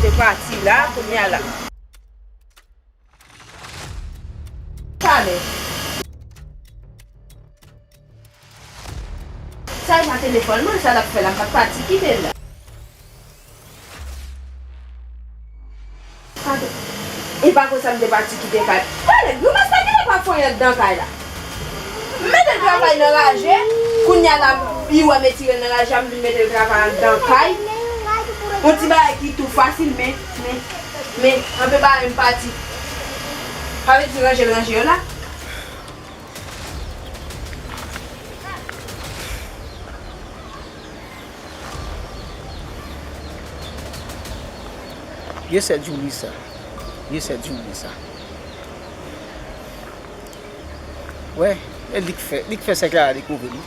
Se pati la kounye a la. Pale. Sa e pa telefòn mwen sa lap fè la m pat pati kite l la. Pardon. E pa konsa m te pati kite kay. Tale, nou pa sa ki nan pa fonyant dan kay la. M mete l travay nan raje, kounye a la li wè m etire l nan raje a m vin mete l travay anndan kay. On ti bagay ki tou fasil men, men, men anpe bagay m pati. Sa vle di ranje l ranje yo la. Ye sè djouli sa. Ye sè djouli sa. Wè. E li k fè. Li k fè sè Clara dekouvri m.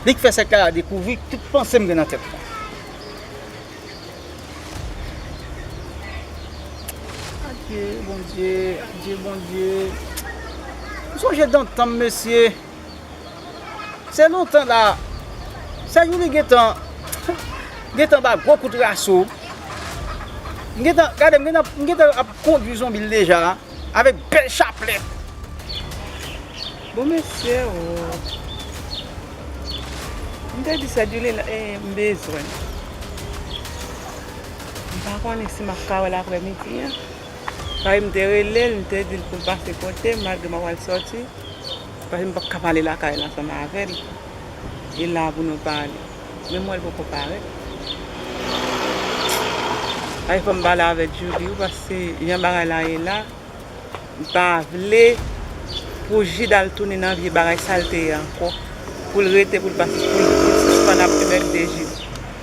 Li k fè sè Clara dekouvri tout panse m gen nan tèt mwen. Adye bondye. Adye bondye. M sonje dantan m mesye. Se lontan la Sèjouly gentan gentan ba gwo kout raso. M gentan gade m gentan ap m gentan ap kondwi zonbi l deja avèk bèl chaplèt. Bon mesye oo. M te di Sèjouly la e m bezwen l. M pa konnen si m ap ka wè l aprèmidi an. Papi m te rele l, m te di l pou l pase kote m malgre m ap al sòti, paske m p ap ka pale lakay la ansanm avè l e la pou nou pale. Men m wè l poko parèt. Paske fò m pale avè Djouly wi paske jan bagay la ye la, m pa vle pou Jid al tounen nan vye bagay sa l te ye ankò, pou l rete pou l sispann ap anmègde Jid.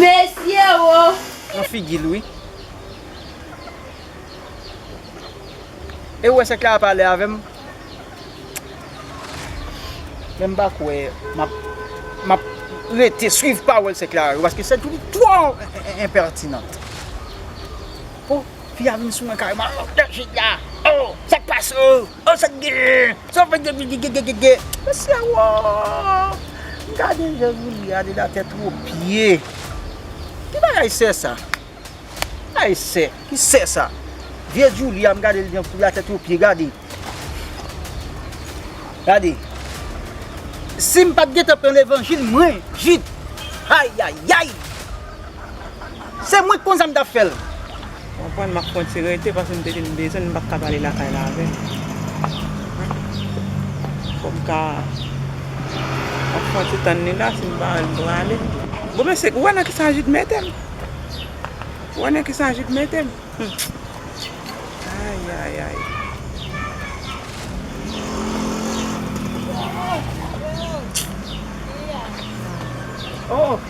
Mesye oo. Nan figil wi. Ew wè sèk la ap ale avèm menm pa kwè map map rete swiv pawòl sèk la yo paske sèk li twò enpertinant oh fi a vin sou mwen kareman oh dèjid la oh sèk pase oh. Oh sak gen? Sa fè gegegegege. Mesi a woo. Gade jan Roulia de la tèt o pye. Ki bagay sè sa? Bagay sè. Ki sè sa? Vye Julia m gade l jan de la tèt o pye gade. Gade. Sim pat gentan pran levanjil mwen jip. Ayayay. Se mwen ki konn sa m tap fè l. Ou konprann map pran ti rete paske m te vin bezwen l m pat ka pale lakay la avè l. Fòm ka ap pran ti tann li la si m pa wè l m prale. Bon mesye ou wè nan kisa Jude mete m. Ou wè nan kisa Jude mete m. Ayayayy. Oh!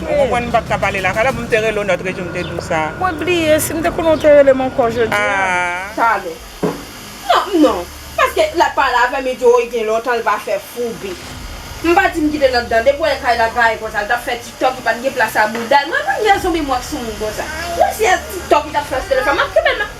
Ou konprann m pat ka pale lakay la pou m te rele w nòt rejou m te di w sa. Mwen bliye, si m te konnen w te rele m ankò jodi a. Talè. Non, non. Paske lap pale avè m li di woy gen lontan l pa fè foube. M pa di m kite nòt dan, depi w wè lakay la gaye konsa l tap fè tiktok li pat gen plas a bouda l. Mwen pa gen rezon memwa k sou moun konsa. Menm si se tiktok li tap fè sou telefòn map kenbe l nan.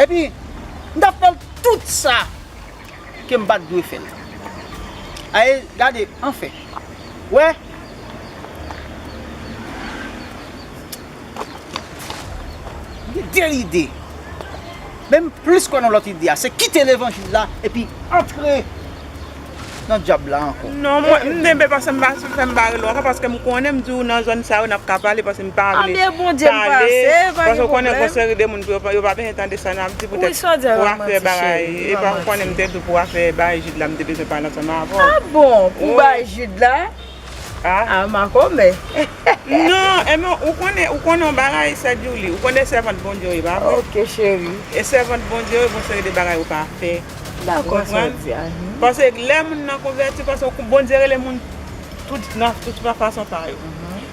Epi, m t ap fè l tout sa ke m pa t dwe fè l. A e, gade, anfen, w wè, m gen de lide, men m plis kwè nan lòt ide a, se kite levanjil la epi antre. nan dyab la ankò. Non mwen m denbe pase m pa fè m pa rele w ankò paske m konnen m di w nan zòn sa yo nap ka pale paske m pa vle Anbyen bondye m pase pa gen pwoblèm. Paske w konnen gon seri de moun yo pa bezwen tande sa nap di poutèt pou afè bagay epa ou konnen m te di w pou afè baay Jid la m te bezwen pale ansanm avè w. Ah bon pou baay Jid la. Ah makomè. Non Emma ou konnen ou konnen yon bagay sè Djouli ou konnen sèvant Bondye w ye pa vre? Ok chérie. E sèvant Bondye w gon seri de bagay ou pa fè. Dakò sa w di a. Pase lè moun nan konvèti pase Bondye rele moun tout nan tout fason pa yo.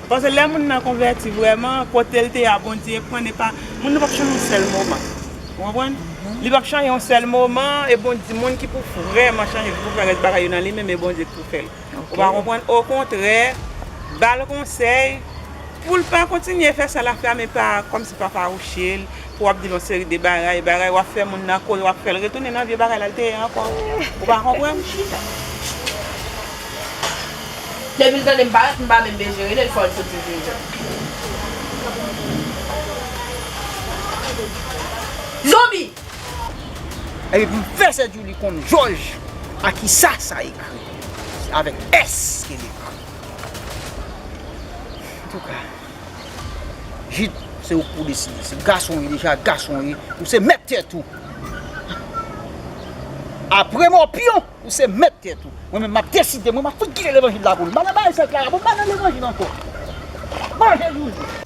Pase lè moun nan konvèti vrèman kote l te a Bondye pran epa moun nan pap chanje yon sèl moman ou konprann li pap chanje yon sèl moman e Bondye moun ki pou vrèman chanje ki pou fè rès bagay yo nan li menm e Bondye k pou fè l. Ou pa konprann okontrè bal konsèy poul pa kontinye fè sa lap fè a men pa kòmsi pa fawouchel pou wap dil yon seri de bagay bagay wap fè moun nan kore wap fèl retounen nan vye bagay lal te ye ankò ou pa konprann chita. Depil tandem parèt m pa menm bezwen relel fòl soti vin jwenn m. Zonbi! Epi pou fè sè Djoulie konn jòj a kisa sa ekri. Se avèk S ke l ekri. Antouka, Jid, se ou k pou deside. Se gason w ye deja, gason w ye. Ou se mèt tèt ou. Apre Mòpyon, ou se mèt tèt ou. Mwen menm m ap deside, mwen m ap fout kite levanjil la pou l. M pa nan bagay sa yo Klara, m pa nan levanjil ankò. Manje Djoulie.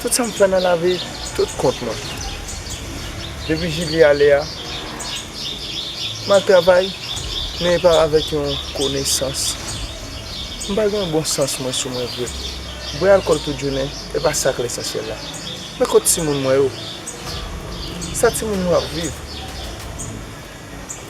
Tout sa m fè nan lavi tout kont mwen. Depi Jili ale a, m al travay, men e pa avèk yon konesans. M pa gen yon bon sans mwen sou mwen vre. Bwè alkòl tout jounen, e pa sa k lesansyèl la. Men kot timoun mwen yo? Sa timoun yo ap viv?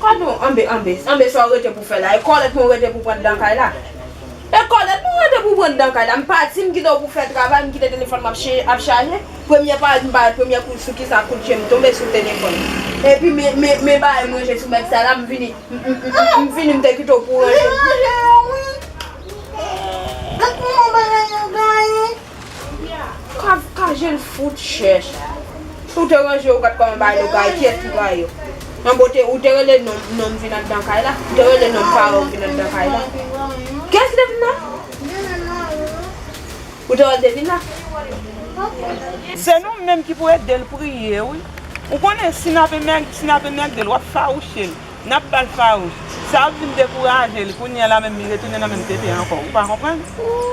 Gadon anbe anbe, anbe sa ou rete pou fè la, e kòlèt mwen ou rete pou pran dan kay la? E kòlèt mwen ou rete pou pran dan kay la, m pa di m kite ou pou fè travay, m kite telefòn m ap chaje, premye parèt m parèt premye kou sou kisa kout je m tonbe sou telefòn, epi me bagay m ranje sou bèt sa la m vini, m vini m te kite ou pou ranje. Kavka jel fout chèch. Ou te ranje ou pat konn bay nou kay kiyès ki bay yo? Manbo te ou te rele nom nom vin andan kay la? Ou te rele nom paranw vin andan kay la? Kiyès ki te vin la? Ou te wèl te vin la? Se nou menm ki pou edel priye wi. Ou konnen si nap emèg si nap emègdel wap fawouchel. Nap bal fawout. Sa ap vin dekouraje li kounye la menm li retounen nan menm tenten ankò. Ou pa konprann?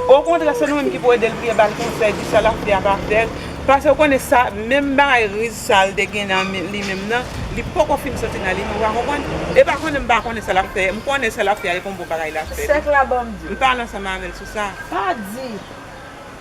O kontrè se nou menm ki pou edel priye bal konsèy di sa lap fè a pa fèl pase ou konnen sa menm bagay riz sa li te gen nan li menm nan li poko fin soti nan li menm ou pa konprann? E pa konnen m pa konnen sa lap fè m konnen sa lap fè a e pa yon bon bagay lap fè. Sèk la banm diw. M pale ansanm avèl sou sa. Pa di.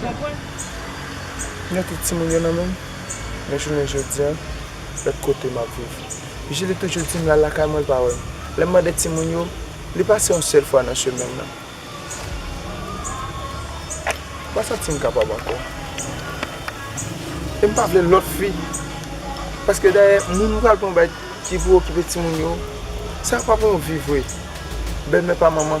Konprann? Lè tout timoun yo nan menm, men jounen jodi a, lòt kote m ap viv. Jili toujou di m l al lakay mwen l pa wè m. Lè m mande timoun yo, li pase yon sèl fwa nan semèn nan. M pa santi m kapab ankò. E m pa vle lòt fi. Paske dayè, moun m pral pran ki pou okipe timoun yo, sa pa pou yon vi vre. Bèlmè pa manman.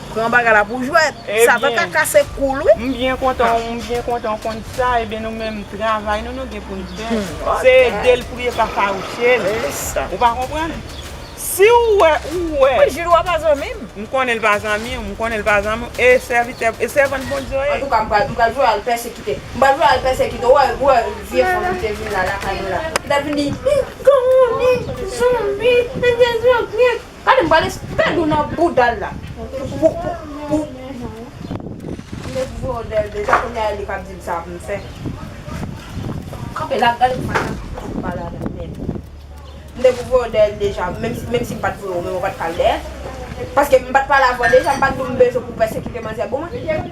Pran bagay la pou jwèt. Satan ka kase kou l wi. M byen kontan w konn sa. Ebyen nou menm travay nou nou gen pou n fè. Se ede l priye pa fawouche l. Ou pa konprann? Si w wè ou wè. Mwen jil ou a pa zanmi m. M konnen l pa zanmi w. M konnen l pa zanmi w. E sèvitè e sèvant Bondye w e. Antouka m pral m pral jwenn al pèsekite. M pral jwenn al pèsekite w. Ou wè vye fanm ki te vin la lakay nou la. Li t ap vin di. Li t ap vin di. Zanmi. Zanmi. Zanmi. Gade m pral espèd ou nan boudal la pou. M te voye w lè l deja kounya a e li kap di m sa pou m fè. Kanpe la gade kouman sa fouti m pale avè l nèt. M te pou voye w lè l deja menm si m pat voye w men ou pat pral lè l paske m pat pale avè w deja m pat di w m bezwen pou pèsekite manzè bon mwen.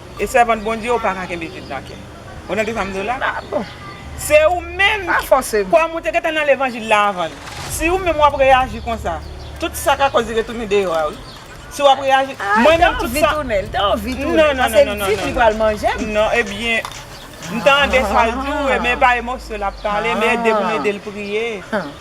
E sèvant Bondye ou paka kenbe vid nan kè. Ou tande sam diw la? Ah bon. Se ou menm ki. Pa fòsem. Kòm ou te gentan nan levanjil la avan. Si ou menm wap reyaji konsa. Tout sa ka koz li retounen deyò a wi. Si wap reyaji. Ah li ta anvi tounen, li ta anvi tounen. Non non non non non. Pase li dim li pral manjem. Non ebyen. M tande sal diw e men pa emosyon lap pale men ede pou m edel priye.